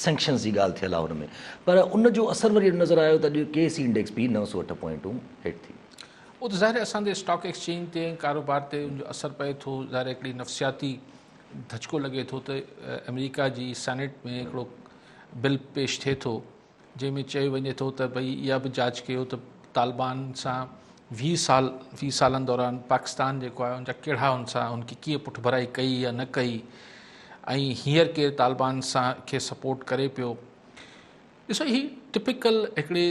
Sanctions جي ڳالهه ٿيل آهي ان ۾ پر ان جو اثر وري اهڙو نظر آيو ته اڄ ڪي سي انڊيڪس به نو سؤ اٺ پوائنٽون هيٺ ٿي. اهو ته ظاهر اسان جي اسٽاڪ ايڪسچينج تي ۽ ڪاروبار تي ان جو اثر پئي ٿو ظاهر هڪڙي نفسياتي ڌچڪو لڳي ٿو ته آمريڪا جي سينيٽ ۾ هڪڙو بل پيش ٿئي ٿو جنهن ۾ چيو وڃي ٿو ته ڀئي اها به جاچ ڪيو ته طالبان سان ويهه سال ويهه سالن دوران پاڪستان جيڪو آهي ان جا ڪهڙا ان سان ان کي ڪيئن پٺڀرائي ڪئي يا نه ڪئي ۽ هينئر ڪير طالبان سان کي سپورٽ ڪري پيو ڏسو هي ٽپيڪل هڪڙي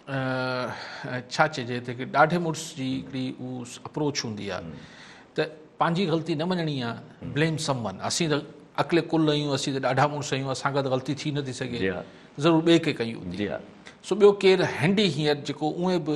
ڇا چئجي ته هڪڙي ڏاڍي مڙس جي هڪڙي هو اپروچ هوندي آهي ته پنهنجي غلطي نه مڃڻي آهي بليم سم ون اسين ته اڪلي ڪل آهيون اسين ته ڏاڍا مڙس آهيون اسان کان ته غلطي ٿي نٿي سگهي ضرور ٻئي کي ڪئي هوندي سو ٻيو ڪير هينڊي هينئر جيڪو اونئي به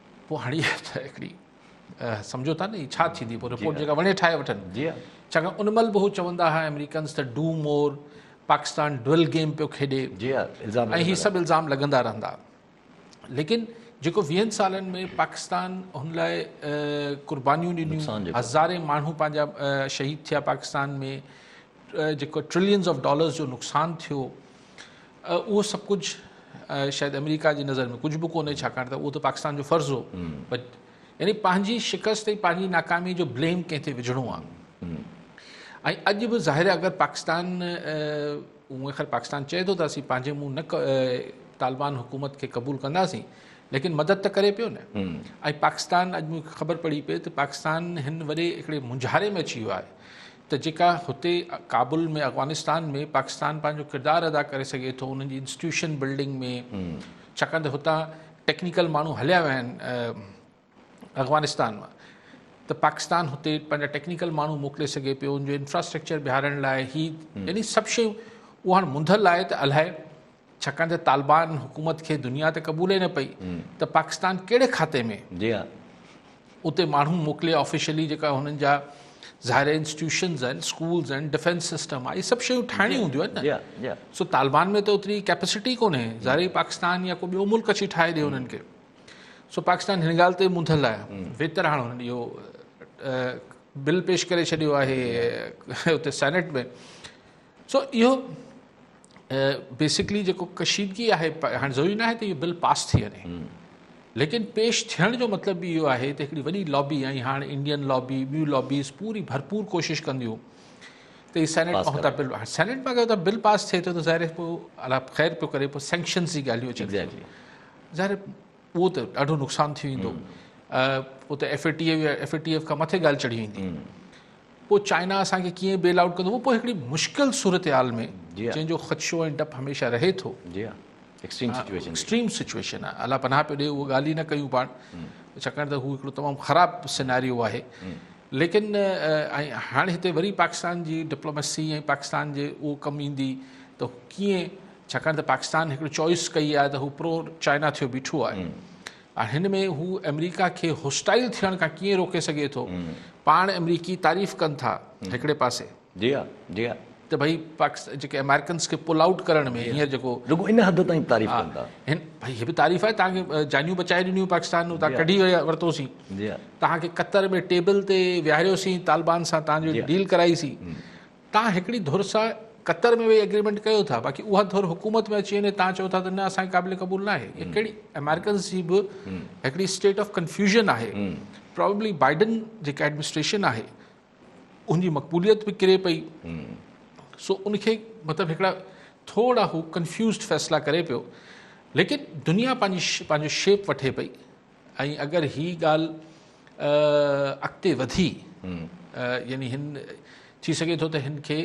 پوء هاڻي ته هڪڙي سمجهو ٿا نه هي ڇا ٿيندي پوء رپورٽ جيڪا وڻي ٺاهي وٺن جي ڇاڪاڻ ان مهل به هو چوندا هئا آمريڪنز ته do more Pakistan double game پيو کيڏي جي الزام ۽ هي سڀ الزام لڳندا رهندا ليڪن جيڪو ويهن سالن ۾ پاڪستان هن لاء قربانيون ڏنيون هزارين ماڻهو پنهنجا شهيد ٿيا پاڪستان ۾ جيڪو ٽرلينز آف ڊالرز جو نقصان ٿيو اهو سڀ ڪجهه شايد آمريڪا جي نظر ۾ ڪجهه به ڪونهي ڇاڪاڻ ته اهو ته پاڪستان جو فرض هو يعني پنهنجي شڪست ۽ پنهنجي ناڪامي جو بليم ڪنهن تي وجهڻو آهي ۽ اڄ به ظاهر آهي اگر پاڪستان اونئن خير پاڪستان چئي ٿو ته اسين پنهنجي منهن نه طالبان حڪومت کي قبول ڪنداسين ليڪن مدد ته ڪري پيو نه ۽ پاڪستان اڄ مون کي خبر پڙي پئي ته پاڪستان هن وڏي هڪڙي مونجهاري ۾ اچي ويو آهي ته جيڪا هتي ڪابل ۾ افغانستان ۾ پاڪستان پنهنجو ڪردار ادا ڪري سگهي ٿو انهن جي انسٽيوشن بلڊنگ ۾ ڇاڪاڻ ته هتان ٽيڪنيڪل ماڻهو هليا ويا آهن افغانستان مان ته پاڪستان هتي پنهنجا ٽيڪنيڪل ماڻهو موڪلي سگهي پيو ان جو انفراسٽرڪچر بيهارڻ لاء هي يعني سڀ شيون اهو هاڻ منڌل آهي ته الاهي ڇاڪاڻ ته طالبان حڪومت کي دنيا تي قبول ئي نه پئي ته پاڪستان ڪهڙي کاتي ۾ جي ها اتي ماڻهو موڪلي آفيشلي جيڪا هنن جا ظاهر انسٽيٽيوشنز آهن اسڪولز آهن ڊفينس سسٽم آهي سڀ شيون ٺاهڻيون هونديون آهن نه سو طالبان ۾ ته اوتري ڪيپسٽي ڪونهي ظاهر پاڪستان يا کو ٻيو ملڪ اچي ٺاهي ڏي هنن کي سو پاڪستان هن ڳالهه تي منڌل آهي ويتر هاڻ هنن اهو بل پيش ڪري ڇڏيو آهي اتي سينيٽ ۾ سو اهو بيسڪلي جيڪو ڪشيدگي آهي هاڻي ضروري ناهي ته اهو بل پاس ٿي وڃي ليڪن پيش ٿيڻ جو مطلب به اهو آهي ته هڪڙي وڏي لابي ۽ هاڻي انڊين لابي ٻيون لابيز پوري ڀرپور ڪوشش ڪنديون ته هي سينيٽ بل سينيٽ مان اگر بل پاس ٿئي ٿو ته ظاهر پوء خير پيو ڪري پوء سينڪشنز جي ڳالهيون اچن ظاهر اهو ته ڏاڍو نقصان ٿي ويندو پوء ته F A T F F A T F کان مٿي ڳالهه چڙهي ويندي پوء چائنا اسانکي ڪيئن بيل آؤٽ ڪندو پوء هڪڙي مشڪل صورتحال ۾ جنهن جو خدشو ۽ ڊپ هميشه رهي ٿو ايڪسٽريم سچويشن آهي الله پناهه پيو ڏي اهو ڳالهه ئي نه ڪيون پاڻ ڇاڪاڻ ته هو هڪڙو تمام خراب سيناريو آهي ليڪن ۽ هاڻي هتي وري پاڪستان جي ڊپلوميسي ۽ پاڪستان جي اهو ڪم ايندي ته ڪيئن ڇاڪاڻ ته پاڪستان هڪڙي چوائس ڪئي آهي ته هو پرو چائنا ٿيو بيٺو آهي هاڻي هن ۾ هو آمريڪا کي هوسٽائل ٿيڻ کان ڪيئن روڪي سگهي ٿو پاڻ آمريڪي تعريف ڪن ٿا هڪڙي پاسي جي ها جي ها ته ڀئي پاڪستان جيڪي امريڪنس کي پل آئوٽ ڪرڻ ۾ هينئر جيڪو رڳو ان حد تائين تعريف ڪن ٿا هن ڀئي هي به تعريف آهي تان کي جانيون بچائي ڏنيون پاڪستان تان ڪڍي ورتوسين جي ها تان کي قطر ۾ ٽيبل تي ويهاريوسين طالبان سان تان جو ڊيل ڪرائي سين توهان هڪڙي ڌر سان قطر ۾ ويهي ايگريمينٽ ڪيو ٿا باقي اها ڌر حڪومت ۾ اچي وڃي توهان چئو ٿا ته نه اسان کي قابل قبول ناهي اها ڪهڙي امريڪنز جي به هڪڙي اسٽيٽ آف ڪنفيوزن آهي پرابلي بائيڊن جيڪا ايڊمنسٽريشن آهي ان جي مقبوليت به ڪري پئي سو ان کي مطلب هڪڙا ٿورا هو ڪنفيوزڊ فيصلا ڪري پيو ليڪن دنيا پنهنجي پنهنجو شيپ وٺي پئي ۽ اگر هي ڳالهه اڳتي وڌي يعني هن ٿي سگهي ٿو ته هن کي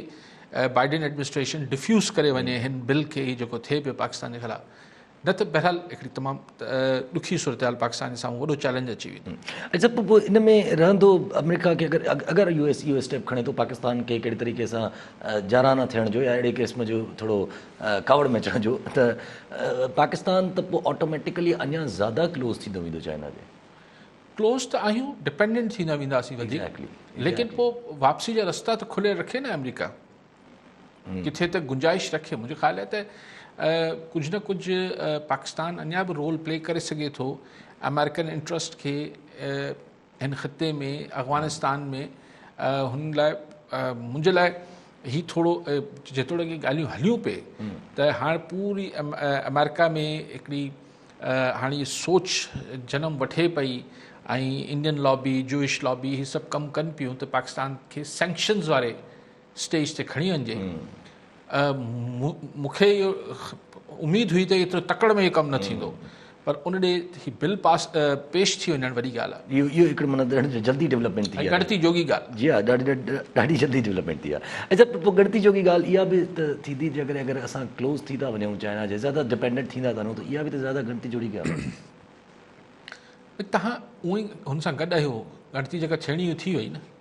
بائيڊن ايڊمنسٽريشن ڊفيوز ڪري وڃي هن بل کي هي جيڪو ٿئي پيو پاڪستان جي خلاف نه ته بهرحال هڪڙي تمام ڏکي صورتحال پاڪستان سان وڏو چئلينج اچي ويندو اچھا پوء ان ۾ رهندو آمريڪا کي اگر اگر U S U S step کڻي ٿو پاڪستان کي ڪهڙي طريقي سان جارحانا ٿيڻ جو يا اهڙي قسم جو ٿورو ڪاوڙ ۾ اچڻ جو ته پاڪستان ته پوء آٽوميٽيڪلي اڃا زياده ڪلوز ٿيندو ويندو چائنا جي. ڪلوز ته آهيون ڊپينڊنٽ ٿيندا وينداسين وڌيڪ ليڪن پوء واپسي جا رستا ته کليل رکي نه آمريڪا ڪٿي ته گنجائش رکي منهنجو خيال آهي ته ڪجهه نه ڪجهه پاڪستان اڃا به رول پلي ڪري سگهي ٿو آمريڪن انٽرسٽ کي هن خطي ۾ افغانستان ۾ هن لاء منهنجي لاء هي ٿورو جيتوڻيڪ هي ڳالهيون هليون پئي ته هاڻ پوري آمريڪا ۾ هڪڙي هاڻي هي سوچ جنم وٺي پئي ۽ انڊين لابي جوئش لابي هي سڀ ڪم ڪن پيون ته پاڪستان کي سينڪشنز واري اسٽيج تي کڻي وڃجي مون کي اهو اميد هئي ته ايترو تڪڙ ۾ اهو ڪم نه ٿيندو پر ان ڏي هي بل پاس پيش ٿي وڃڻ وڏي ڳالهه آهي اهو اهو هڪڙو مطلب ڏاڍي جلدي ڊيولپمينٽ ٿي آهي ڳڻتي جوڳي ڳالهه جي ها ڏاڍي جلدي ڊيولپمينٽ ٿي آهي اچا پوء ڳڻتي جوڳي ڳالهه اها به ته ٿيندي جي ڪڏهن اگر اسان ڪلوز ٿي ٿا وڃون چائنا جي زياده ڊپينڊنٽ ٿيندا ٿا وڃون ته اها به ته زياده ڳڻتي جوڙي ڳالهه آهي تهان اونئي هن سان گڏ آهيو ڳڻتي جيڪا ٿيڻي هئي ٿي وئي نه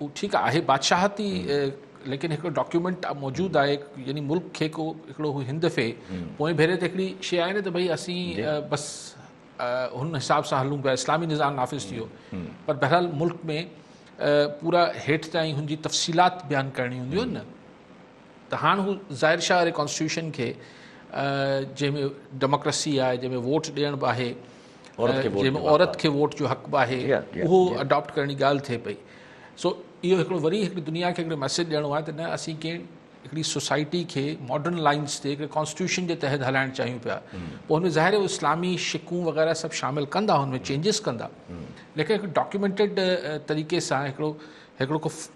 هو ٺيڪ آهي بادشاهتي ليڪن هڪڙو ڊاڪيومينٽ موجود آهي يعني ملڪ کي ڪو هڪڙو هو هند في پوئين ڀيري تي هڪڙي شي آهي نه ته ڀئي اسين جي. بس هن حساب سان هلون پيا اسلامي نظام نافذ ٿيو پر بهرحال ملڪ ۾ پورا هيٺ تائين هن جي تفصيلات بيان ڪرڻي هونديون آهن نه ته هاڻ هو ظاهر شاهه واري ڪانسٽيٽيوشن کي جنهن ۾ ڊيموڪريسي آهي جنهن ۾ ووٽ ڏيڻ به آهي جنهن ۾ عورت کي ووٽ جو حق به آهي اهو اڊاپٽ ڪرڻ جي ڳالهه ٿئي پئي سو اهو هڪڙو وري هڪڙي دنيا کي هڪڙو ميسج ڏيڻو آهي ته نه اسين ڪنهن هڪڙي سوسائٽي کي ماڊرن لائنس تي هڪڙي ڪانسٽيوشن جي تحت هلائڻ چاهيون پيا پوء هن ظاهر اسلامي شڪون وغيرہ سڀ شامل ڪندا هن ۾ چينجز ڪندا ليڪن هڪ ڊاڪيومينٽيڊ طريقي سان هڪڙو هڪڙو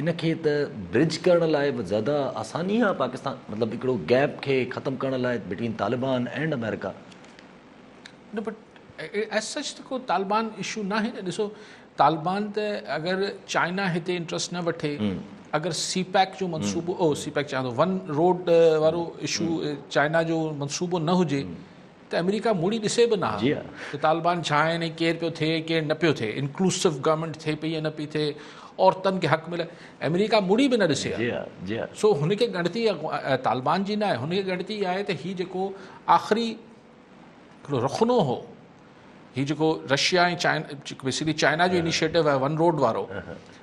ان کي ته برج ڪرڻ لاء به زياده آساني آهي پاڪستان مطلب هڪڙو گيپ کي ختم ڪرڻ لاء بٽوين طالبان اينڊ امريڪا. نه بٽ ايز سچ ته ڪو طالبان اشو ناهي نه ڏسو طالبان ته اگر چائنا هتي انٽرسٽ نه وٺي اگر سي پيڪ جو منصوبو او سي پيڪ چاهيان ٿو ون روڊ وارو اشو چائنا جو منصوبو نه هجي ته آمريڪا موڙي ڏسي به نه ها ته طالبان ڇا آهن ۽ ڪير پيو ٿئي ڪير نه پيو ٿئي انڪلوسو گورنمينٽ ٿئي پئي يا نه پئي ٿئي عورتن کي حق ملي آمريڪا موڙي به نه ڏسي ها سو هن کي ڳڻتي طالبان جي نه آهي هن کي ڳڻتي اها آهي ته هي جيڪو آخري هڪڙو رخنو هو هي جيڪو رشيا ۽ چائنا بيسڪلي چائنا جو انيشيٽو آهي ون روڊ وارو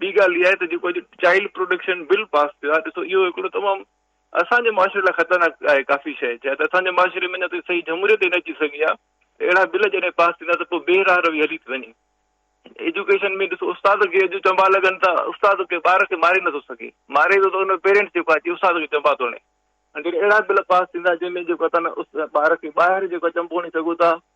ٻي ڳالهه اها آهي ته جيڪو اڄ چائلڊ پروٽيڪشن بل پاس ٿيو آهي ڏسو اهو هڪڙو تمام اسان جي معاشري لاء خطرناڪ آهي ڪافي شيء جا ته اسان جي معاشري ۾ اڃا تائين صحيح جمهوريت ئي نه اچي سگهي آهي اهڙا بل جڏهن پاس ٿيندا ته پوء بي راهه روي هلي ٿي وڃي ايجوڪيشن ۾ ڏسو استاد کي اڄ چنبا لڳن ٿا استاد کي ٻار کي ماري نٿو سگهي ماري ٿو ته ان جو پيرنٽس جيڪو اچي استاد کي چنبا ٿو هڻي جڏهن اهڙا بل پاس ٿيندا جنهن ۾ جيڪو تن ٻار کي ٻاهر جيڪو چنبو هڻي سگهو ٿا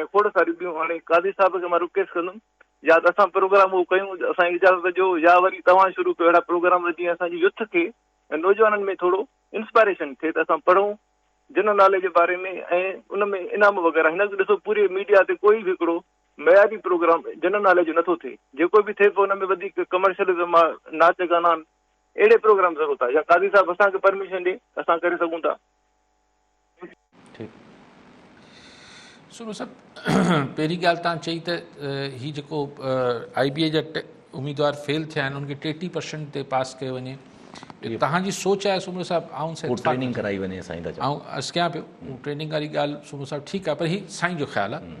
۽ کوڙ ساريون ٻيون هاڻي قاضي صاحب کي مان رڪويسٽ ڪندم يا ته اسان پروگرام اهو ڪيون اسان کي اجازت ڏيو يا وري توهان شروع ڪيو اهڙا پروگرام جيئن اسانجي يوٿ کي ۽ نوجوانن ۾ ٿورو انسپائريشن ٿئي ته اسان پڙهون جنرل ناليج جي باري ۾ ۽ ان ۾ انعام وغيره هن وقت ڏسو پوري ميڊيا تي ڪوئي به هڪڙو معياري پروگرام جنرل ناليج جو نٿو ٿئي جيڪو به ٿئي پيو ان ۾ وڌيڪ ڪمرشلزم آهي ناچ گانا آهن اهڙي پروگرام ضرورت آهي يا قاضي صاحب اسانکي پرميشن ڏي اسان ڪري سگهون ٿا سنو صاحب پهرين ڳالهه تان چئي ته هي جيڪو آئي بي اي جا اميدوار فيل ٿيا آهن ان کي ٽي ٽي پرسنٽ تي پاس ڪيو وڃي توهان جي سوچ آهي سنو صاحب آئون ٽريننگ ڪرائي وڃي سائين ته آئون ارس ڪيان پيو ٽريننگ واري ڳالهه سنو صاحب ٺيڪ آهي پر هي سائين جو خيال آهي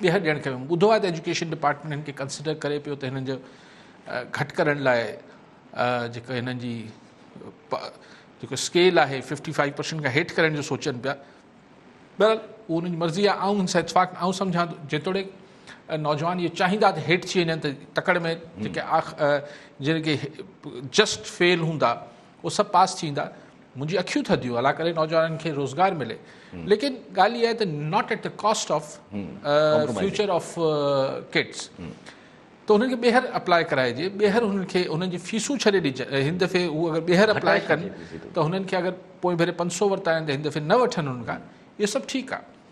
ٻيهر ڏيڻ کپي. مون ٻڌو آهي ته ايجوڪيشن ڊپارٽمينٽ هن کي ڪنسڊر ڪري پيو ته هنن جو گهٽ ڪرڻ لاء جيڪو هنن جي جيڪو اسڪيل آهي ففٽي فائيو پرسنٽ کان هيٺ ڪرڻ جو سوچن پيا بهرحال اهو هن جي مرضي آهي آئون هن سان اتفاق آئون سمجھان ٿو جيتوڻيڪ نوجوان اهو چاهيندا ته هيٺ ٿي وڃن ته تڪڙ ۾ جيڪي جن کي جسٽ فيل هوندا اهي سڀ پاس ٿيندا منهنجي اکيون ٿڌيون الله ڪري نوجوانن کي روزگار ملي ليڪن ڳالهه اها آهي ته not at the cost of future of kids ته انهن کي ٻيهر اپلائي ڪرائجي ٻيهر انهن کي انهن جي فيسون ڇڏي ڏجن هن دفعي هو اگر ٻيهر اپلائي ڪن ته هنن کي اگر پوئين ڀيري پنج سو ورتا آهن ته هن دفعي نه وٺن هن کان اهو سڀ ٺيڪ آهي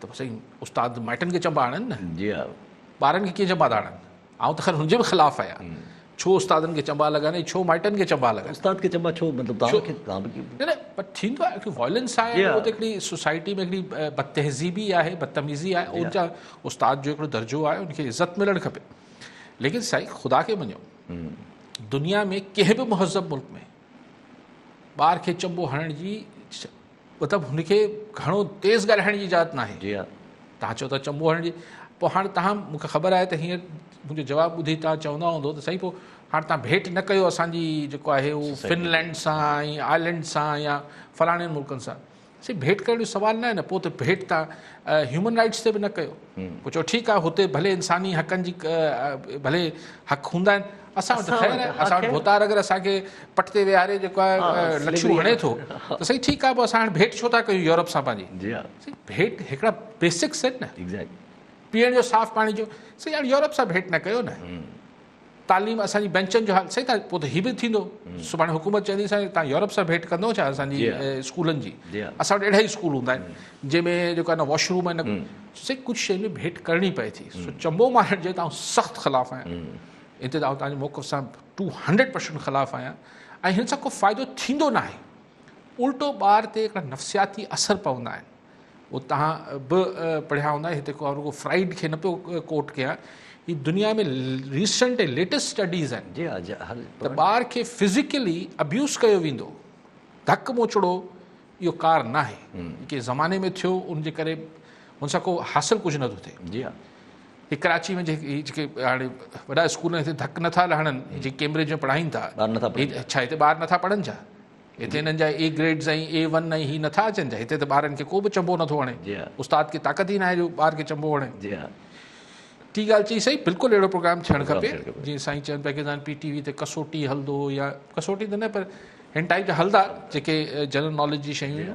ته سائين استاد مائٽن کي چنبا آڻن نه جي ها ٻارن کي ڪيئن چنبا ٿا آڻن آئون ته خير هن جي به خلاف آهيان ڇو استادن کي چنبا لڳن ۽ ڇو مائٽن کي چنبا لڳن استاد کي چنبا ڇو مطلب تان کي تان به نه نه پر ٿيندو آهي هڪڙي وائلنس آهي هو ته هڪڙي سوسائٽي ۾ هڪڙي بدتهذيبي آهي بدتميزي آهي ان جا استاد جو هڪڙو درجو آهي ان کي عزت ملڻ کپي ليڪن سائين خدا کي مڃو دنيا ۾ ڪنهن به مهذب ملڪ ۾ ٻار کي چنبو هڻڻ جي مطلب هن کي گهڻو تيز ڳالهائڻ جي اجازت ناهي جي ها تان چو ته چنبو هڻڻ جي پو هاڻ تان مونکي خبر آهي ته هينئر منهنجو جواب ٻڌي تان چوندا هوندو ته سائين پو هاڻ تان ڀيٽ نه ڪيو اسان جي جيڪو آهي هو فنلينڊ سان ۽ آئلينڊ سان يا فلاڻين ملڪن سان سي ڀيٽ ڪرڻ جو سوال نه آهي نه پو ته ڀيٽ تان هيومن رائيٽس تي به نه ڪيو مون چيو ٺيڪ آهي هتي ڀلي انساني حقن جي ڀلي حق هوندا آهن اسان وٽ خير آهي اسان وٽ ڀوتار اگر اسان کي پٽ تي ويهاري جيڪو آهي لڇون هڻي ٿو ته سائين ٺيڪ آهي پوء اسان هاڻي ڀيٽ ڇو ٿا ڪيون يورپ سان پنهنجي سائين ڀيٽ هڪڙا بيسڪس آهن نه پيئڻ جو صاف پاڻي جو سائين هاڻي يورپ سان ڀيٽ نه ڪيو نه تعليم اسان جي بينچن جو حال سائين تان پوء ته هي به ٿيندو سڀاڻي حڪومت چوندي سائين تان يورپ سان ڀيٽ ڪندو ڇا اسان جي اسڪولن جي اسان وٽ اهڙا ئي اسڪول هوندا آهن جنهن ۾ جيڪو نه واش روم آهن سائين ڪجهه شين ۾ ڀيٽ ڪرڻي پئي ٿي سو چمبو مارڻ جي تان سخت خلاف آهيان هتي تان تان موقف سان ٽو هنڊريڊ پرسنٽ خلاف آهيان ۽ هن سان ڪو فائدو ٿيندو ناهي الٽو ٻار تي نفسياتي اثر پوندا آهن اهو توهان به پڙهيا هوندا هتي ڪو رڳو فرائيڊ کي نه پيو ڪوٽ ڪيان هي دنيا ۾ ريسنٽ ۽ ليٽيسٽ اسٽڊيز آهن جي ها جي هل ته ٻار کي فزيڪلي ابيوز ڪيو ويندو ڌڪ موچڙو اهو ڪار نه آهي ڪي زماني ۾ ٿيو ان جي ڪري هن سان ڪو حاصل ڪجهه نه ٿو ٿئي جي ها هي ڪراچي ۾ جيڪي هاڻي وڏا اسڪول هتي ڌڪ نٿا لهڻن جي ڪيمبرج ۾ پڙهائين ٿا ٻار نٿا پڙهن اڇا هتي ٻار نٿا پڙهن ڇا هتي هنن جا اي گريڊز ۽ اي ون ۽ هي نٿا اچن ڇا؟ هتي ته ٻارن کي ڪو به چنبو نٿو هڻي. استاد کي طاقت ئي ناهي جو ٻار کي چنبو هڻي. ٽي ڳالهه چئي صحيح بلڪل اهڙو پروگرام ٿيڻ کپي جيئن سائين چون پيا ڪيدان پي ٽي وي تي ڪسوٽي هلندو يا ڪسوٽي ته نه پر هن ٽائيپ جا هلدا جيڪي جنرل ناليج جي شيون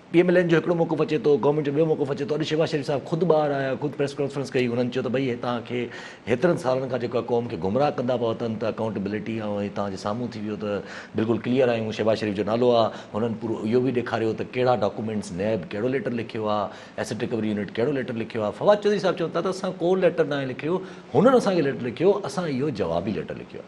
پي ايم ايل اين جو هڪڙو موقف اچي ٿو، گورنمينٽ جو ٻيو موقف اچي ٿو، اڄ شهباز شريف صاحب خود ٻاهر آيا، خود پريس ڪانفرنس ڪئي، هنن چيو ته ڀئي هتان کي هيترن سالن کان جيڪو آهي قوم کي گمراهه ڪندا پيا وتن ته اڪائونٽيبلٽي ۽ هي تهان جي سامهون ٿي ويو ته بلڪل ڪليئر آهيون، شهباز شريف جو نالو آ، هنن پورو اهو به ڏيکاريو ته ڪهڙا ڊاڪومينٽس، نيب ڪهڙو ليٽر لکيو آ، ايسٽ رڪوري يونٽ ڪهڙو ليٽر لکيو آ، فواد چوڌري صاحب چون ٿا ته اسان ڪو ليٽر ناهي لکيو، هنن اسان کي ليٽر لکيو، اسان اهو جوابي ليٽر لکيو آ.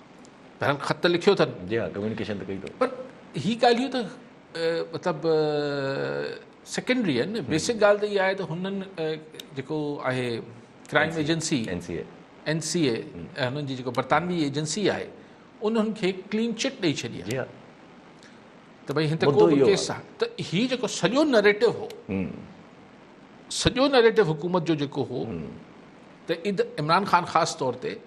پهريان خط لکيو اٿن. جي ها ڪميونيڪيشن ته ڪئي اٿو. پر هي ڳالهيون ته مطلب سيڪنڊري آهن نه بيسڪ ڳالهه ته اها آهي ته هنن جيڪو آهي crime agency N C A N C A هنن جي جيڪو برطانوي ايجنسي آهي انهن کي ڪلين چٽ ڏئي ڇڏي جي ها ته ڀائی هن ته ڪيس آهي ته هي جيڪو سڄو نريٽو هو سڄو نريٽو حڪومت جو جيڪو هو ته عمران خان خاص طور تي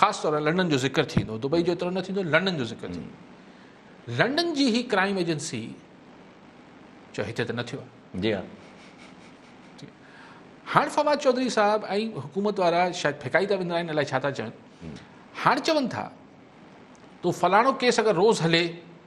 خاص طور لاء لنڊن جو ذڪر ٿيندو دبئي جو ايترو نه ٿيندو لنڊن جو ذڪر ٿيندو لنڊن جي هي ڪرائم ايجنسي چو هتي ته نه ٿيو جي ها هاڻ فواد چوڌري صاحب ۽ حڪومت وارا شايد ڦڪائي ٿا ويندرائن الائي ڇا ٿا چون هاڻ چون ٿا تو فلاڻو ڪيس اگر روز هلي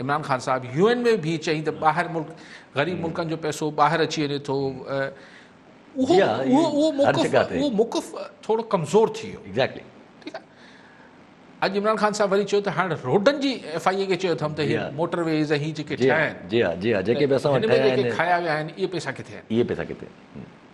عمران خان صاحب يو اين ۾ بيهي چيائين ته ٻاهر ملڪ غريب ملڪن جو پئسو ٻاهر اچي وڃي ٿو اهو موقف ٿورو ڪمزور ٿي ويو اڄ عمران خان صاحب وري چيو ته هاڻ روڊن جي ايف آء اي کي چيو اٿم ته هي موٽر ويز هي جيڪي ٺاهيا آهن جي ها جي ها جيڪي به اسان وٽ ٺاهيا آهن اهي پئسا ڪٿي آهن اهي پئسا ڪٿي آهن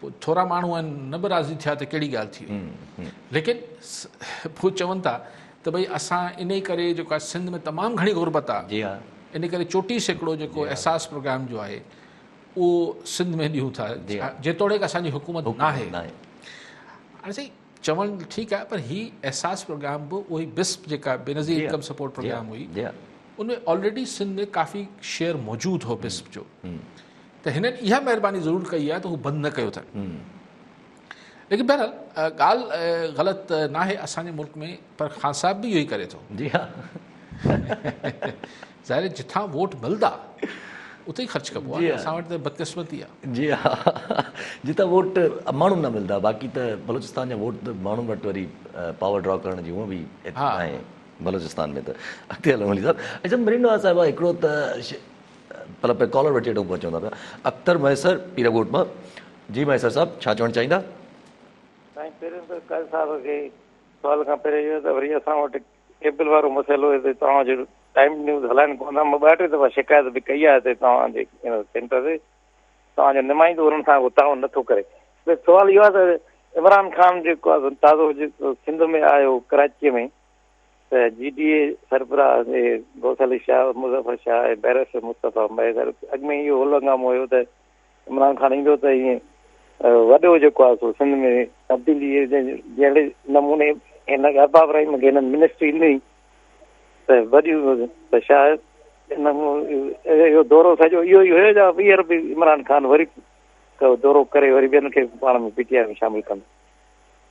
پوء ٿورا ماڻهو آهن نه به راضي ٿيا ته ڪهڙي ڳالهه ٿي وئي ليڪن پوء چون ٿا ته ڀئي اسان ان ئي ڪري جيڪو آهي سنڌ ۾ تمام گهڻي غربت آهي جي ها ان ڪري چوٽيهه سيڪڙو جيڪو احساس پروگرام جو آهي اهو سنڌ ۾ ڏيون ٿا جيتوڻيڪ اسان جي حڪومت نه آهي هاڻي سائين چوڻ ٺيڪ آهي پر هي احساس پروگرام به اهو ئي بسپ جيڪا بينظير انڪم سپورٽ پروگرام هئي ان ۾ آلريڊي سنڌ ۾ ڪافي شيئر موجود هو بسپ جو ته هنن اها مهرباني ضرور ڪئي آهي ته هو بند نه ڪيو اٿن ليڪن بهرحال ڳالهه غلط ناهي اسان جي ملڪ ۾ پر خان صاحب به اهو ئي ڪري ٿو جي ها ظاهر جتان ووٽ ملدا اتي ئي خرچ ڪبو آهي اسان وٽ ته بدقسمتي آهي جي ها جتان ووٽ ماڻهو نه ملدا باقي ته بلوچستان جا ووٽ ماڻهن وٽ وري پاور ڊرا ڪرڻ جي هونء به آهي بلوچستان ۾ ته اڳتي هلو علي صاحب اچھا مريم نواز صاحبه هڪڙو ته پلا پئي ڪالر وٺي اڏو ڪونه چوندا پيا اختر مهيسر پير ڳوٺ مان جي مهيسر صاحب ڇا چوڻ چاهيندا. سائين پهريون ته قائد صاحب کي سوال کان پهريان اهو ته وري اسان وٽ ڪيبل وارو مسئلو هتي توهان جو ٽائيم نيوز هلائن ڪون ٿا مان ٻه ٽي دفعا شڪايت به ڪئي آهي هتي توهان جي سينٽر تي توهان جو نمائندو انهن سان ڪو تعاون نٿو ڪري سوال اهو آهي ته عمران خان جيڪو تازو سنڌ ۾ آيو ڪراچيء ۾ ته جي ڊي اي سربراهه جي غوث علي شاهه، مظفر شاهه ۽ بئرسٽر مصطفيٰ مهيندر اڳ ۾ ئي اهو هل هنگامو هيو ته عمران خان ايندو ته هي وڏو جيڪو آهي سو سنڌ ۾ تبديلي جهڙي نموني هن ارباب ابراهيم کي هنن منسٽري ڏني ته وڏي ته شايد اهو دورو سڄو اهو ئي هيو جا ٻيهر به عمران خان وري دورو ڪري وري ٻين کي پاڻ ۾ پي ٽي آء ۾ شامل ڪن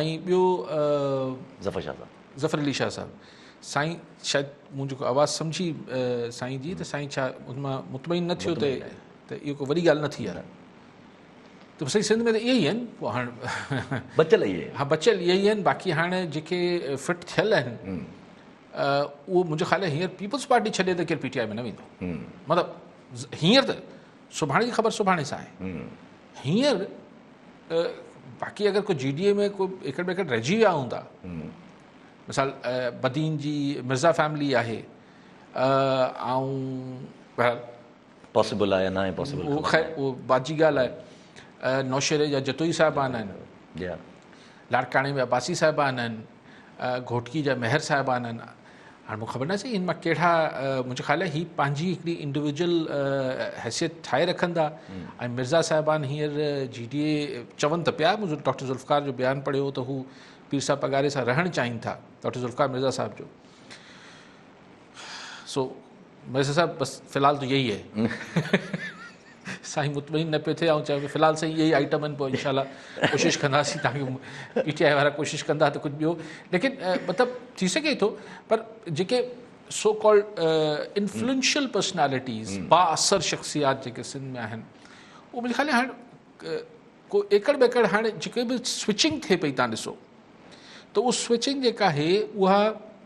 ۽ ٻيو ظفر شاهه صاحب. ظفر علي شاهه صاحب سائين شايد مون جيڪو آواز سمجهي سائين جي ته سائين ڇا ان مان مطمئن نه ٿيو ته ته اهو ڪو وڏي ڳالهه نه ٿي آهي ته سائين سنڌ ۾ ته اهي ئي آهن پوء هاڻ بچل اهي آهن ها بچل اهي ئي آهن باقي هاڻ جيڪي فٽ ٿيل آهن اهو منهنجو خيال آهي هينئر پيپلز پارٽي ڇڏي ته ڪير پي ٽي آء ۾ نه ويندو مطلب هينئر ته سڀاڻي جي خبر سڀاڻي سان آهي هينئر باقي اگر ڪو جي ڊي اي ۾ ڪو ايڪڙ ٻيڪڙ رهجي ويا هوندا مثال بدين جي مرزا فيملي آهي بهرحال پاسبل آهي ناهي پاسبل اهو بعد جي ڳالهه آهي نوشهري جا جتوئي صاحبان آهن لاڙڪاڻي جا عباسي صاحبان آهن گهوٽڪي جا مهر صاحبان آهن هاڻي مون کي خبر ناهي سائين ان مان ڪهڙا منهنجي خيال هي پنهنجي هڪڙي انڊيويجل حيثيت ٺاهي رکندا ۽ مرزا صاحبان هينئر جي ڊي اي چون ته پيا مون ڊاڪٽر ذوالفقار جو بيان پڙهيو ته هو پير صاحب پگاري سان رهڻ چاهين ٿا ڊاڪٽر ذوالفقار مرزا صاحب جو سو ميسر صاحب بس في الحال تو يهي هي. سائين مطمئن نه پيو ٿئي آئون چيو في الحال سائين اهي ئي آئٽم آهن پوء انشاء الله ڪوشش ڪنداسين تان جو پي ٽي آئي وارا ڪوشش ڪندا ته ڪجهه ٻيو ليڪن مطلب ٿي سگهي ٿو پر جيڪي سو ڪالڊ انفلوئنشل پرسنالٽيز با اثر شخصيات جيڪي سنڌ ۾ آهن اهو منهنجي خيال هاڻ ڪو ايڪڙ ٻيڪڙ هاڻ جيڪي به سوئچنگ ٿئي پئي تان ڏسو ته اهو سوئچنگ جيڪا آهي اها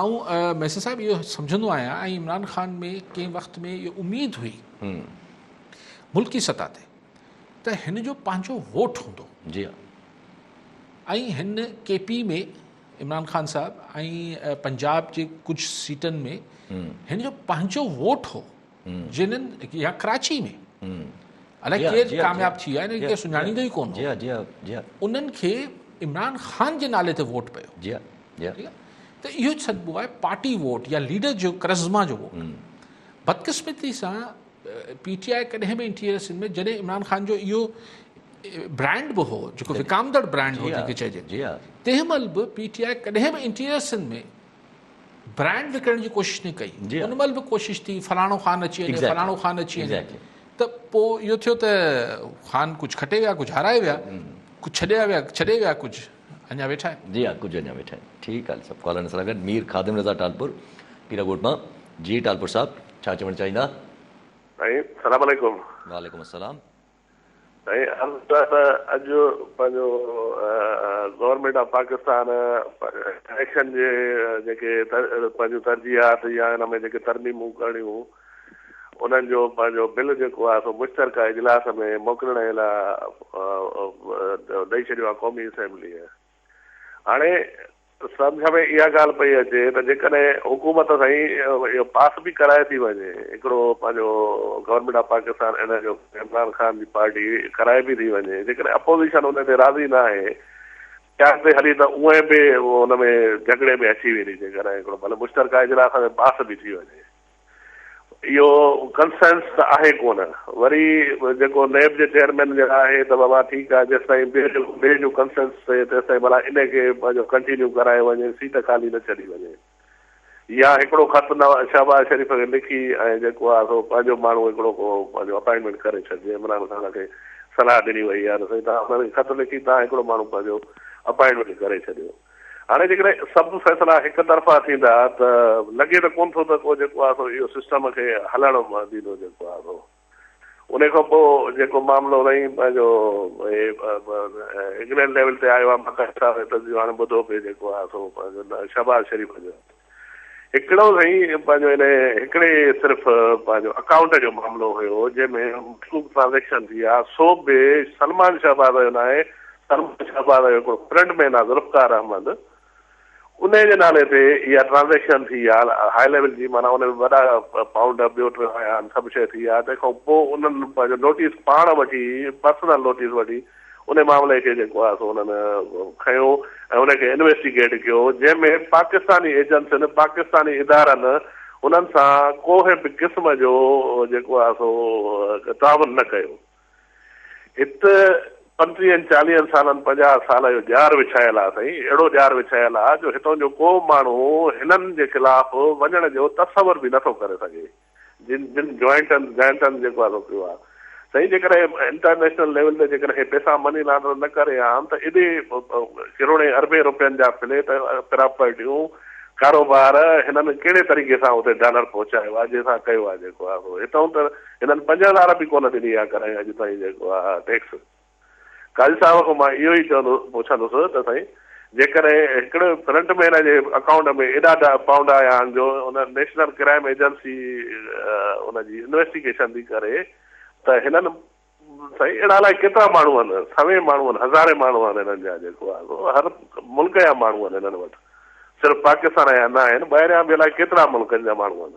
آئون ميسر صاحب اهو سمجهندو آهيان ۽ عمران خان ۾ ڪنهن وقت ۾ اهو اميد هئي ملڪي سطح تي ته هن جو پنهنجو ووٽ هوندو جي ۽ هن ڪي پي ۾ عمران خان صاحب ۽ پنجاب جي ڪجهه سيٽن ۾ هن جو پنهنجو ووٽ هو جنھن يا ڪراچي ۾ الائي ڪير ڪامياب ٿي ويا آهن سڃاڻيندو ئي ڪون هو انهن کي عمران خان جي نالي تي ووٽ پيو جي جي ته اهو سڏبو آهي پارٽي ووٽ يا ليڊر جو ڪرزما جو ووٽ بدقسمتي سان پي ٽي آء ڪڏهن به انٽيريئر سنڌ ۾ جڏهن عمران خان جو اهو برانڊ به هو جيڪو وڪامدڙ برانڊ هو جنهن کي چئجي تنهن مهل به پي ٽي آء ڪڏهن به انٽيريئر سنڌ ۾ برانڊ وڪڻڻ جي ڪوشش نه ڪئي ان مهل به ڪوشش ٿي فلاڻو خان اچي وڃي فلاڻو خان اچي وڃي ته پوء اهو ٿيو ته خان ڪجهه کٽي ويا ڪجهه هارائي ويا ڪجهه ڇڏيا ويا ڇڏي ويا ڪجهه اڃا ويٺا آهن جي ها ڪجهه اڃا ويٺا آهن ٺيڪ آهي سڀ ڪالرن سان گڏ مير خادم رضا ٽالپور پيرا ڳوٺ مان جي ٽالپور صاحب ڇا چوڻ چاهيندا سائين سلام عليڪم وعليڪم السلام سائين عرض ته ته اڄ پنهنجو گورنمينٽ آف پاڪستان اليڪشن جي جيڪي پنهنجون ترجيحات يا ان ۾ جيڪي ترميمون ڪرڻيون انهن جو پنهنجو بل جيڪو آهي سو مشترڪه اجلاس ۾ موڪلڻ جي لاء ڏئي ڇڏيو آهي قومي اسيمبليء هاڻي سمجهه ۾ اها ڳالهه پئي اچي ته جيڪڏهن حڪومت سائين اهو پاس به ڪرائي ٿي وڃي هڪڙو پنهنجو گورنمينٽ آف پاڪستان ان جو عمران خان جي پارٽي ڪرائي به ٿي وڃي جيڪڏهن اپوزيشن ان تي راضي نه آهي چاهه تي هلي ته اونئين به ان ۾ جهڳڙي ۾ اچي ويندي جيڪڏهن هڪڙو ڀلي مشترڪه اجلاس ۾ پاس به ٿي وڃي اهو ڪنسينس ته آهي ڪونه. وري جيڪو نيب جي چيئرمين جي راء آهي ته بابا ٺيڪ آهي جيستائين ٻئي جو ٻئي جو ڪنسينس ٿئي تيستائين ڀلا انهي کي پنهنجو ڪنٽينيو ڪرايو وڃي سيٽ خالي نه ڇڏي وڃي يا هڪڙو خط نواز شهباز شريف کي لکي ۽ جيڪو آهي سو پنهنجو ماڻهو هڪڙو ڪو پنهنجو اپائنٽمينٽ ڪري ڇڏجي عمران خان کي صلاح ڏني وئي آهي ته سائين توهان انهن کي خط لکي توهان هڪڙو ماڻهو پنهنجو اپائنٽمينٽ ڪري ڇڏيو. هاڻي جيڪڏهن سڀ فيصلا هڪ طرفا ٿيندا ته لڳي ته ڪونه ٿو ته ڪو جيڪو آهي سو اهو سسٽم کي هلڻ ڏيندو جيڪو آهي سو انهي کان پوء جيڪو معاملو رهي پنهنجو انگلينڊ ليول تي آيو آهي باقاعده تنظيم هاڻي ٻڌو پئي جيڪو آهي سو پنهنجو شهباز شريف جو هڪڙو سائين پنهنجو ان هڪڙي صرف پنهنجو اڪائونٽ جو معاملو هيو جنهن ۾ مخلوق ٽرانزيڪشن ٿي آ سو به سلمان شهباز جو ناهي سلمان شهباز جو هڪڙو فرنڊ مين آ ذوالفقار احمد انهي جي نالي تي اها ٽرانزيڪشن ٿي آ هاء ليول جي معنيٰ ان ۾ وڏا پائونڊ ٻيو ٽيون آيا آهن سڀ شيء ٿي آ تنهن کان پوء انهن پنهنجو نوٽيس پاڻ وٺي پرسنل نوٽيس وٺي ان معاملي کي جيڪو آهي سو انهن کنيو ۽ ان کي انويسٽيگيٽ ڪيو جنهن ۾ پاڪستاني ايجنسين پاڪستاني ادارن انهن سان ڪوهي به قسم جو جيڪو آهي سو تعاون نه ڪيو هت پنٽيهن چاليهن سالن پنجاهه سال اهو ڄار وڇايل آهي سائين اهڙو ڄار وڇايل آهي جو هتان جو ڪو به ماڻهو هنن جي خلاف وڃڻ جو تصور به نه ٿو ڪري سگهي. جن جن جوائنٽن جائنٽن جيڪو آهي سو ڪيو آهي سائين جيڪڏهن انٽرنيشنل ليول تي جيڪڏهن هي پئسا مني لانڊر نه ڪري ها ته ايڏي ڪروڙين اربين روپين جا فليٽ پراپرٽيون ڪاروبار هنن ڪهڙي طريقي سان اتي ڊالر پهچايو آهي جنهن سان ڪيو آهي جيڪو آهي سو هتئون ته هنن پنج هزار به ڪونه ڏني آهي ڪڏهن اڄ تائين جيڪو آهي ٽيڪس قاضي صاحب کان مان اهو ئي چوندو پڇندس ته سائين جيڪڏهن هڪڙي فرنٽ مين جي اڪائونٽ ۾ ايڏا پائونڊ آيا آهن جو ان نيشنل ڪرائيم ايجنسي ان جي انويسٽيگيشن ٿي ڪري ته هنن سائين اهڙا الائي ڪيترا ماڻهو آهن سوين ماڻهو آهن هزارين ماڻهو آهن هنن جا جيڪو آهي هر ملڪ جا ماڻهو آهن هنن وٽ صرف پاڪستان جا نه آهن ٻاهريان به الائي ڪيترا ملڪن جا ماڻهو آهن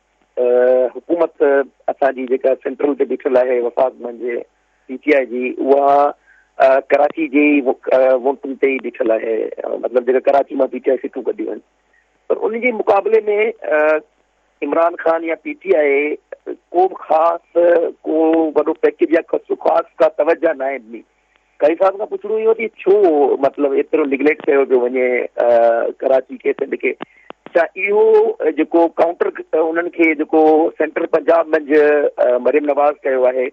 حڪومت اسان جي جيڪا سينٽرل تي بيٺل آهي وفاق منجهه پي ٽي آء جي اها ڪراچي جي ووٽن تي ئي بيٺل آهي مطلب جيڪا ڪراچي مان پي ٽي آء سيٽون ڪڍيون آهن پر ان جي مقابلي ۾ عمران خان يا پي ٽي آء کو خاص کو وڏو پيڪيج يا خاص کا توجه ناهي ڏني قاري صاحب کان پڇڻو اهو ٿي ڇو مطلب ايترو نيگليڪٽ ڪيو پيو وڃي ڪراچي کي سنڌ کي ڇا اهو جيڪو ڪائونٽر انهن کي جيڪو سينٽر پنجاب منجھ مريم نواز ڪيو آهي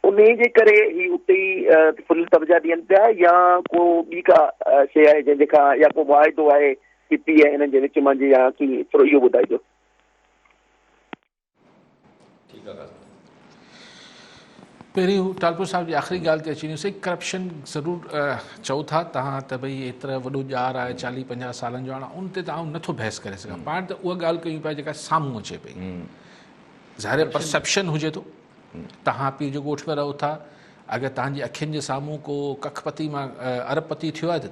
ان جي ڪري هي اتي ئي فل توجه ڏين پيا يا ڪو ٻي ڪا شي آهي جنهن جي کان يا ڪو معاهدو آهي پي پي آء هنن جي وچ مان جي يا ڪي ٿورو اهو ٻڌائجو پهرين هو ٽالپر صاحب جي آخري ڳالهه تي اچي وڃو سائين ڪرپشن ضرور چئو ٿا تهان ته ڀئي ايترا وڏو ڄار آهي چاليهه پنجاهه سالن جو هاڻ ان تي ته آئون نٿو بحث ڪري سگهان پاڻ ته اها ڳالهه ڪيون پيا جيڪا سامهون اچي پئي ظاهر پرسپشن هجي ٿو تهان پير جو ڳوٺ ۾ رهو ٿا اگر تهانجي اکين جي سامهون ڪو ڪک پتي مان ارب پتي ٿيو آهي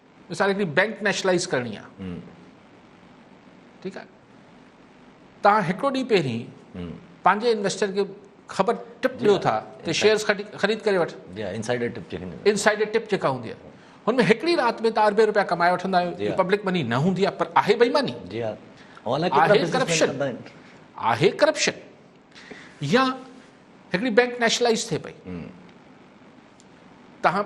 مثال هڪڙي بئنڪ نيشلائز ڪرڻي آ ٺيڪ آ تهان هڪڙو ڏينهن پهرين پنهنجي انويسٽر کي خبر ٽپ ڏيو ٿا ته شيئرز خريد ڪري وٺ انسائيڊر ٽپ جيڪا انسائيڊر ٽپ جيڪا هوندي آ هن ۾ هڪڙي رات ۾ تهان اربين روپيا ڪمائي وٺندا آهيو پبلڪ مني نه هوندي آ پر آهي بيماني جي آ آهي ڪرپشن آهي ڪرپشن يا هڪڙي بئنڪ نيشلائز ٿئي پئي تهان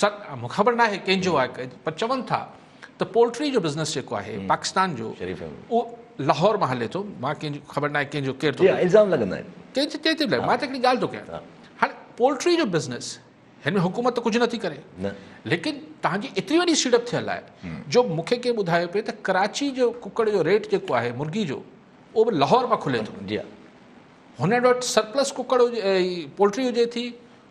سر مون خبر ناهي ڪنهن جو آهي پر چون ٿا ته پولٽري جو بزنس جيڪو آهي پاڪستان جو اهو لاهور مان هلي ٿو مان ڪنهن جو خبر ناهي ڪنهن جو ڪير ٿو الزام لڳندا آهن ڪنهن جي ڪنهن تي لڳ مان ته هڪڙي ڳالهه ٿو ڪيان هاڻي پولٽري جو بزنس هن ۾ حڪومت ته ڪجهه نٿي ڪري ليڪن تهان جي ايتري وڏي سيڙپ ٿيل آهي جو مون کي ڪنهن ٻڌايو پئي ته ڪراچي جو ڪڪڙ جو ريٽ جيڪو آهي مرغي جو اهو به لاهور مان کلي ٿو جي هن وٽ سرپلس ڪڪڙ هجي پولٽري هجي ٿي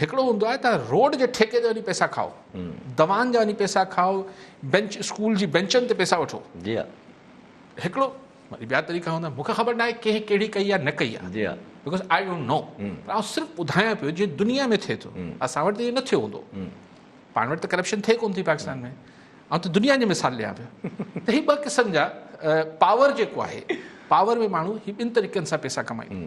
هڪڙو هوندو آهي ته روڊ جي ٺيڪي تي وڃي پئسا کائو دوان جا وڃي پئسا کائو بينچ اسڪول جي بينچن تي پئسا وٺو جي ها هڪڙو وري ٻيا طريقا هوندا مونکي خبر ناهي ڪنهن ڪهڙي ڪئي آهي نه ڪئي آهي جي ها بڪاز آئي ڊونٽ نو پر آئون صرف ٻڌايان پيو جي دنيا ۾ ٿئي ٿو اسان وٽ ته نه ٿيو هوندو پاڻ وٽ ته ڪرپشن ٿئي ڪون ٿي پاڪستان ۾ آئون ته دنيا جو مثال ڏيان پيو ته هي ٻه قسم جا پاور جيڪو آهي پاور ۾ ماڻهو هي ٻن طريقن سان پئسا ڪمائين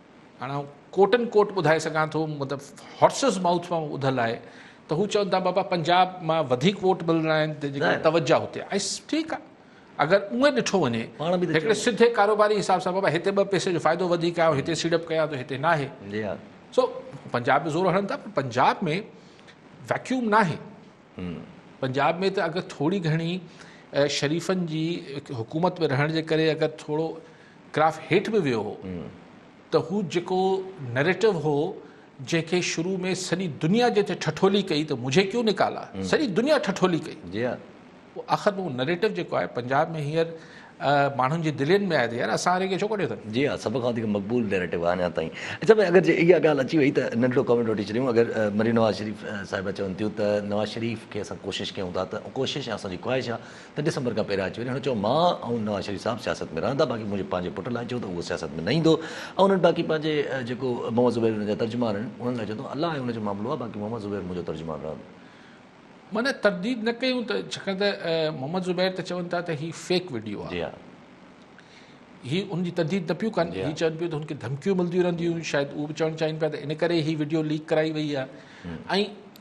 هاڻ آئون ڪوٽ اينڊ ڪوٽ ٻڌائي سگهان ٿو مطلب هارسز مائوٿ مان ٻڌل آهي ته هو چون ٿا بابا پنجاب مان وڌيڪ ووٽ ملڻا آهن تنهنجي ڪري توجه هتي آئي ٺيڪ آهي اگر اونئن ڏٺو وڃي هڪڙي سڌي ڪاروباري حساب سان بابا هتي ٻه پئسي جو فائدو وڌيڪ آهي هتي سيڙپ ڪيان ٿو هتي ناهي سو پنجاب ۾ زور هڻن ٿا پر پنجاب ۾ ويڪيوم ناهي پنجاب ۾ ته اگر ٿوري گهڻي شريفن جي حڪومت ۾ رهڻ جي ڪري اگر ٿورو گراف هيٺ به ويو هو ته هو جيڪو نريٽو هو جنهن کي شروع ۾ سڄي دنيا جنهن تي ٺٺولي ڪئي ته مجهي ڪيون نڪالا سڄي دنيا ٺٺولي ڪئي جي ها پوء آخر ۾ هو نريٽو جيڪو آهي پنجاب ۾ هينئر ماڻهن جي دلين ۾ آهي ته يار اسان واري کي ڇو ڪڍيو اٿن جي ها سڀ کان وڌيڪ مقبول نريٽو آهي اڃا تائين اچا ڀاء اگر جي اها ڳالهه اچي وئي ته ننڍڙو ڪمينٽ وٺي ڇڏيون اگر مريم نواز شريف صاحبه چون ٿيون ته نواز شريف کي اسان ڪوشش ڪيون ٿا ته ڪوشش اسان جي خواهش آهي ته ڊسمبر کان پهريان اچي وڃي. هن چيو مان ۽ نواز شريف صاحب سياست ۾ رهندا باقي منهنجي پنهنجي پٽ لاء چئو ته اهو سياست ۾ نه ايندو ۽ انهن باقي پنهنجي جيڪو محمد زبير هن جا ترجمان آهن انهن لاء چوندو الله ۽ ان جو معاملو آهي باقي محمد زبير منهنجو ترجمان رهندو. معنيٰ ترديد نه ڪيون ته ڇاڪاڻ ته محمد زبير ته چون ٿا ته هي فيڪ وڊيو آهي. هي ان جي ترديد نه پيون ڪن هي چون پيون ته هن کي ڌمڪيون ملنديون رهنديون هيون شايد اهو به چوڻ چاهين پيا ته ان ڪري هي وڊيو ليڪ ڪرائي وئي آهي ۽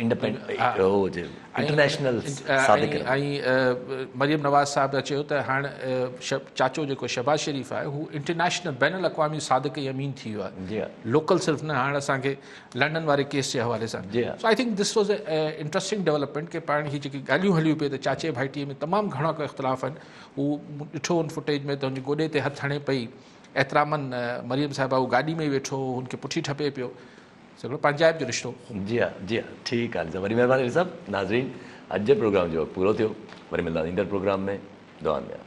انٽرنيشنل صادق ۽ مريم نواز صاحب جا چيو ته هاڻ چاچو جيڪو شهباز شريف آهي هو انٽرنيشنل بين الاقوامي صادق ۽ امين ٿي ويو آهي لوڪل صرف نه هاڻ اسان کي لنڊن واري ڪيس جي حوالي سان so I think this was a interesting development ڪي پاڻ هي جيڪي ڳالهيون هليون پيون ته چاچي ڀائٽي ۾ تمام گهڻا ڪو اختلاف آهن هو ڏٺو ان فوٽيج ۾ ته هن گوڏي تي هٿ هڻي پئي احترامن مريم صاحبه هو گاڏي ۾ ويٺو هن کي پٺي ٺپي پيو سگهڙو پنهنجائپ جو رشتو. جي ها جي ها ٺيڪ آهي وري مهرباني علي صاحب ناظرين اڄ جي پروگرام جو وقت پورو ٿيو وري ملنداسين ايندڙ پروگرام ۾ دعائن ۾ ياد.